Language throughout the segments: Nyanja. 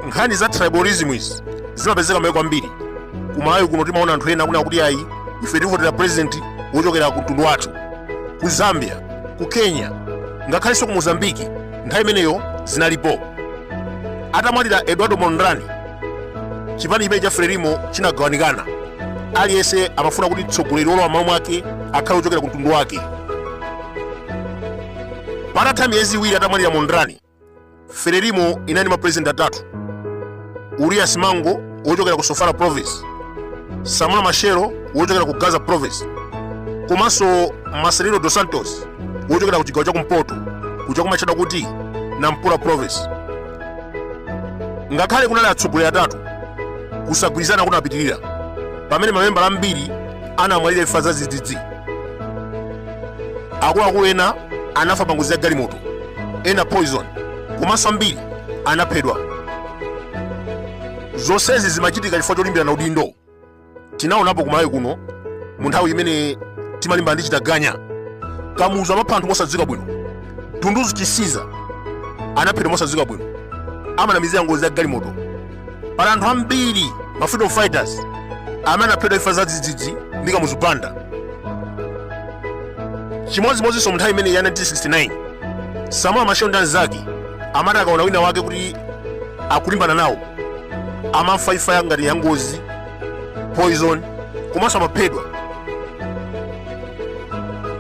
nkhani za tribalism izi zimapezeka maiko ambiri kumalawi kuno timaona anthu ena akunena kuti ayi ife tivotera president wochokera ku mtundu wathu ku zambia ku kenya ngakhalenso ku mozambiki nthawi imeneyo zinalipo atamwalira eduardo mondlane chipani chimene cha frelimo chinagawanikana aliyense amafuna kuti mtsogoleri wolowa m'malo mwake akhale wochokera ku mtundu wake patatha miyezi iwiri atamwalira mondlane frelimo inali ndi mapurezidenti atatu uria simango wochokera ku sofala province samora machel wochokera ku gaza province komanso marcelino dos santos wochokera ku chigawo cha kumpoto kuja kumatchedwa kuti nampula province ngakhale kunali atsogoleri atatu kusagwirizana kunapitirira pamene mamembala ambiri anamwalira imfa zadzidzidzi akuluakulu ena anafa pa ngozi ya galimoto ena poison komanso ambiri anaphedwa zonsezi zimachitika chifukwa cholimbirana udindo tinaonapo kumalawi kuno mu nthawi imene timalimbana ndi chitaganya kamuzu amapha anthu mosadziwika bwino dunduzi chisiza anaphedwa mosadziwika bwino amanamizira ngozi ya galimoto pali anthu ambiri ma freedom fighters amene anaphedwa imfa zadzidzidzi ndi kamuzu banda chimodzimodzinso mu nthawi imene ya 1969 samora machel ndi anzake amati akaona wina wake kuti akulimbana nawo amafa imfa ya ngati ya ngozi poison komanso amaphedwa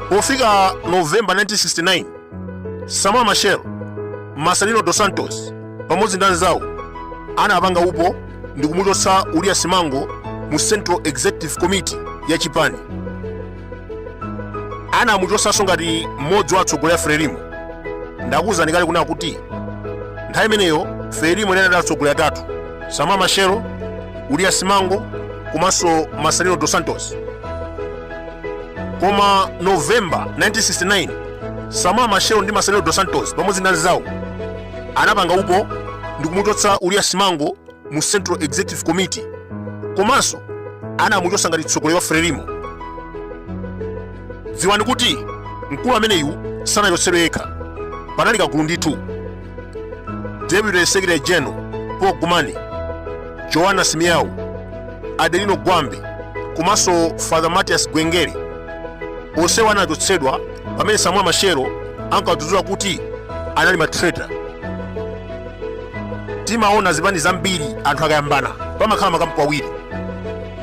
pofika novemba 1969 samora machel marcelino dos santos pamodzi ndi anzawo anapanga upo ndi kumuchotsa uria simango mu central executive committee ya chipani anamuchotsanso ngati mmodzi wa atsogoleri a frelimo ndakuwuzani kale kunena kuti nthawi imeneyo frelimo inali ndi atsogoleri atatu samora machel uria simango komanso marcelino dos santos koma novemba 1969 samora machel ndi marcelino dos santos pamodzi ndi anzawo anapanga upo ndikumuchotsa uria simango mu Central Executive Committee komanso anamuchotsa ngati mtsogoleri wa Frelimo. Dziwani kuti mkulu ameneyu sanachotsedwe yekha, panali kagulu ndithu. Deputy Secretary General Paul Gumane, Joana Simeao, Adelino Gwambe komanso Father Matias Gwenjere onsewa anachotsedwa pamene Samora Machel ankawadzudzula kuti anali matraitor. timaona zipani zambiri anthu akayambana pamakhala makampu awiri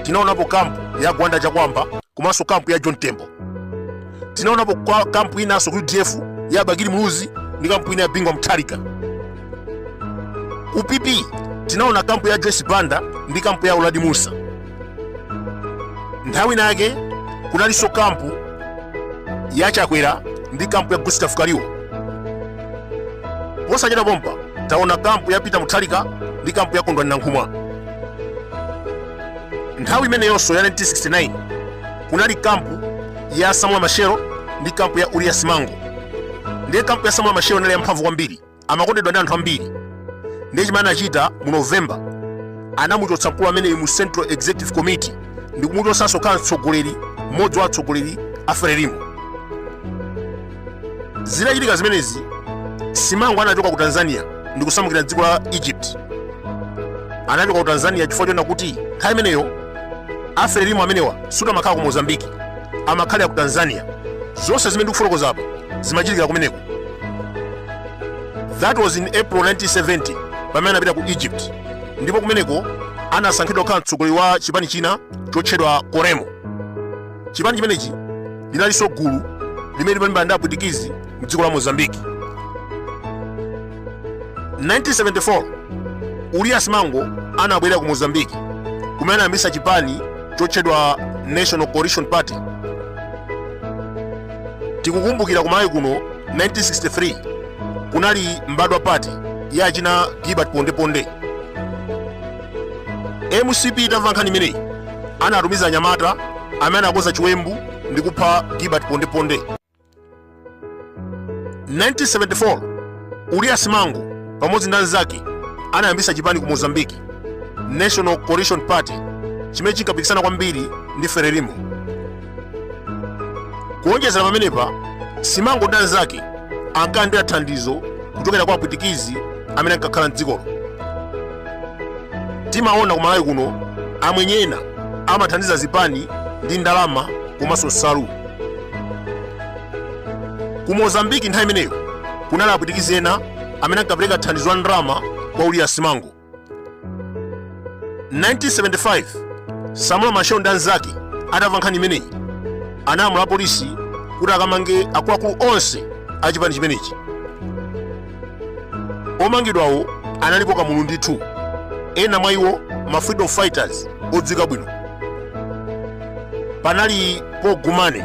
tinaonapo kampu ya gwanda chakwamba komanso kampu ya john tembo tinaonapo kampu inanso ku udf ya bakili muluzi ndi kampu ina ya bingwa mutharika ku pp tinaona kampu ya joyce banda ndi kampu ya uladi musa nthawi nake kunalinso kampu ya chakwera ndi kampu ya gustav kaliwo posachita pompa taona kampu ya peter mutharika ndi kampu ya kondwani nankhumwa nthawi imeneyonso ya 1969 kunali kampu ya samora machel ndi kampu ya uria simango ndiye kampu ya samora machel inali yamphamvu kwambiri amakondedwa ndi anthu ambiri ndiye chimene anachita mu november anamuchotsa mkulu ameneyu mu central executive committee ndi kumuchotsanso kukhala mtsogoleri mmodzi wa atsogoleri a frelimo zinachitika zimenezi simango anachoka ku tanzania ndi kusamukira mdziko la egypt anachoka ku tanzania chifukwa choona kuti nthawi imeneyo a frelimo amenewa suti amakhala ku mozambiki amakhalira ku tanzania zonse zimene ndikufotokoza apa zimachitikira kumeneko that was in april 1970 pamene anapita ku egypt ndipo kumeneko anasankhidwa kukhala mtsogoleri wa chipani china chotchedwa coremo chipani chimenechi linalinso gulu limene limalimbana ndi apwitikizi mdziko la mozambiki 1974 uria simango anabwerera ku mozambiki kumene anayambitsa chipani chotchedwa national coalition party tikukumbukira ku malawi kuno 1963 kunali mbadwa party ya achina gilbert pondeponde mcp itamva nkhani imeneyi anatumiza anyamata amene anakonza chiwembu ndi kupha gilbert pondeponde 1974 uria simango pamodzi ndi anzake anayambitsa chipani ku mozambiki national coalition party chimene chinkapikisana kwambiri ndi frelimo kuonjezera pamenepa simango ndi anzake ankalandira thandizo kuchokera kwa apwitikizi amene ankakhala mdzikolo timaona ku malawi kuno amwenye ena amathandiza zipani ndi ndalama komanso nsalu ku mozambiki nthawi imeneyo kunali apwitikizi ena amene ankapereka thandizo la ndalama kwa uria simango 1975 samora machel ndi anzake atamva nkhani imeneyi analamula apolisi kuti akamange akuluakulu onse a chipani chimenechi omangidwawo analipo kamulu ndithu ena mwa iwo ma freedom fighters odziwika bwino panali paul gumane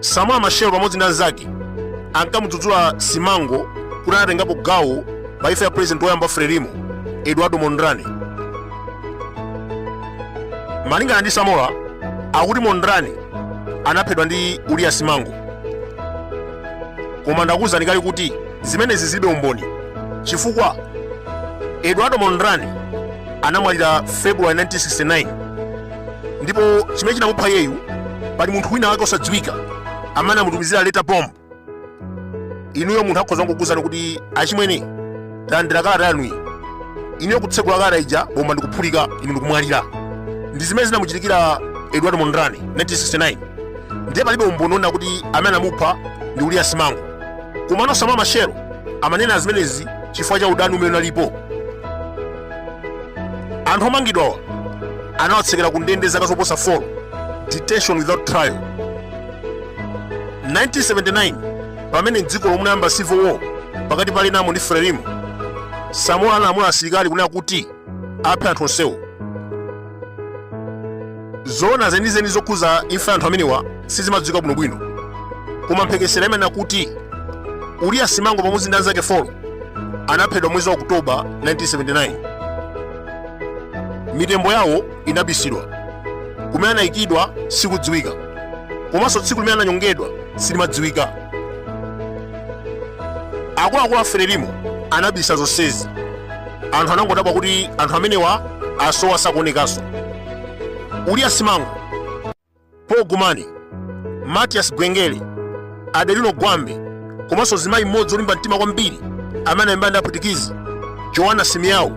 Samora Machel pamodzi ndi anzake ankamudzudzula Simango kuti anatengapo gawo pa imfa ya president woyamba wa Frelimo Eduardo Mondlane. Malingana ndi Samora akuti Mondlane anaphedwa ndi Uria Simango, koma ndakuwuzani kale kuti zimenezi zilibe umboni chifukwa Eduardo Mondlane anamwalira February 1969 ndipo chimene chinamupha iyeyu pali munthu wina wake osadziwika amene anamutumizira letter bomb inuyo munthu akhoza kukuuzani kuti achimwene talandira kalata yanuyi inuyo kutsegula kalata ija bomba ndikuphulika inu ndikumwalira ndi zimene zinamuchitikira eduardo mondlane 1969 ndiye palibe umboni wonena kuti amene anamupha ndi uria simango komano samora machel amanena zimenezi chifukwa cha udani umene unalipo anthu omangidwawa anawatsekera ku ndende zaka zoposa 4 detention without trial 1979 pamene mdzikolo munayamba civil war pakati pa renamo ndi frelimo samora analamula asilikali kunena kuti aphe anthu onsewo zoona zenizeni zokhuza imfa ya anthu amenewa sizimadziwika bwinobwino koma mphekesera imanena kuti uria simango pamodzi ndi anzake 4 anaphedwa mwezi wa okutoba 1979 mitembo yawo inabisidwa kumene anayikidwa sikudziwika komanso tsiku limene ananyongedwa silimadziwika akuluakulu a frelimo anabisa zonsezi anthu anangodabwa kuti anthu amenewa asowa sakuonekanso uria simango paul gumane matias gwengele adelino gwambe komanso zimayi mmodzi olimba mtima kwambiri amene analimbana ndi apwitikizi joana simeao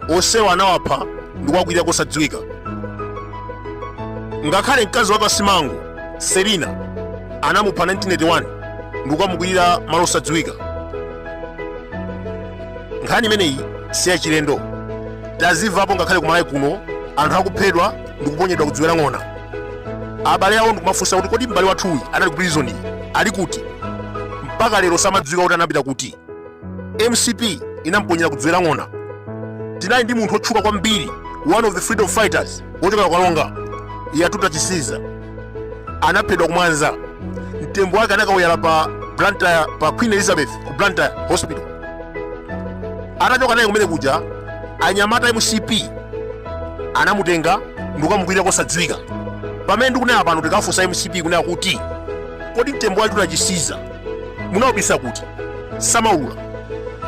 onsewa anawapha ndi kuwakwirira kosadziwika ngakhale mkazi wake wa simango selina anamupha 1981 ndi kukamukwirira malo osadziwika nkhani imeneyi si yachilendo tazimvapo ngakhale ku malawi kuno anthu akuphedwa ndi kuponyedwa ku dziwe la ng'ona abale awo ndikumafunsa kuti kodi m'bale wathuyu anali ku prison ali kuti mpaka lero samadziwika kuti anapita kuti mcp inamponyera ku dziwe la ng'ona tinali ndi munthu otchuka kwambiri one of the freedom fighters wochokera ku karonga yatuta chisiza anaphedwa ku mwanza mtembo wake anakauyala pa blantyre pa queen elizabeth ku blantyre hospital atachoka naye kumene kuja anyamata a mcp anamutenga ndikukamukwirira kosadziwika pamene ndikunena pano tikafunsa mcp kunena kuti kodi mtembo wa yatuta chisiza munaubisa kuti samaulula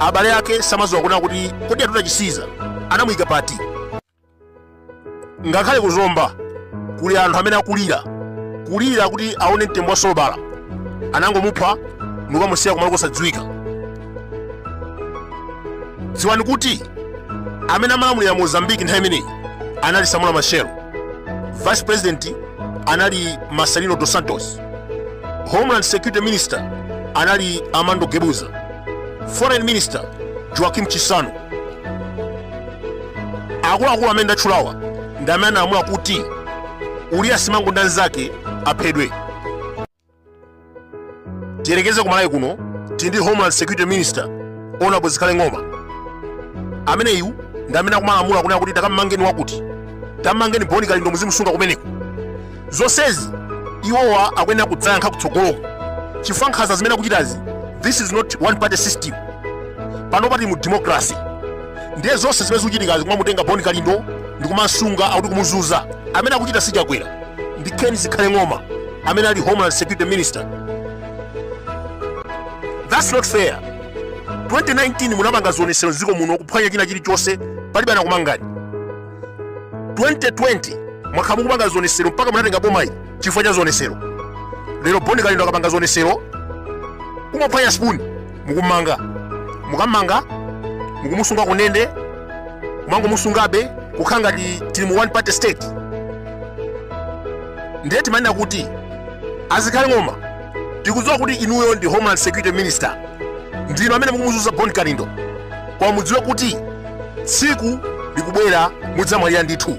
abale ake samadziwa kunena kuti kodi yatuta chisiza anamuyika pati ngakhale ku zomba kuli anthu amene akulira kulira kuti aone mtembo wa sobala anangomupha ndikukamusiya kumalo kosadziwika dziwani kuti amene amalamulira mozambiki nthawi imeneyi anali samora machel vice president anali marcelino dos santos homeland security minister anali armando guebuza foreign minister joaquim chissano akuluakulu amene ndatchulawa ndi amene analamula kuti uria simango ndi anzake aphedwe tiyerekeze ku malawi kuno tili ndi homeland security minister honourable zikhale ng'oma ameneyu ndi amene akumalamula kunena kuti takammangeni wakuti tammangeni boni kalindo muzimusunga kumeneko zonsezi iwowa akuyenera kudzayankha kutsogoloko chifukwa nkhanza zimene akuchitazi this is not one party system panopa tili mu democracy ndiye zonse zimene zikuchitikazi kumamutenga boni kalindo ndikumamusunga akuti kumuzunza amene akuchita si chakwera ndi ken zikhale ng'oma amene ali homeland security minister that's not fair 2019 munapanga zionesero mdziko muno kuphwanya china chilichonse palibe anakumangani 2020 mwakhala mukupanga zionesero mpaka munatenga bomali chifukwa cha zionesero lero boni kalindo akapanga zionesero kungophwanya spoon mukummanga mukammanga mukumusunga kundende kumangomusungabe kukhala ngati tili mu one party state ndiye timanena kuti a zikhale ng'oma tikudziwa kuti inuyo ndi homeland security minister ndinu amene mukumuzunza boni kalindo koma mudziwe kuti tsiku likubwera mudzamwalira ndithu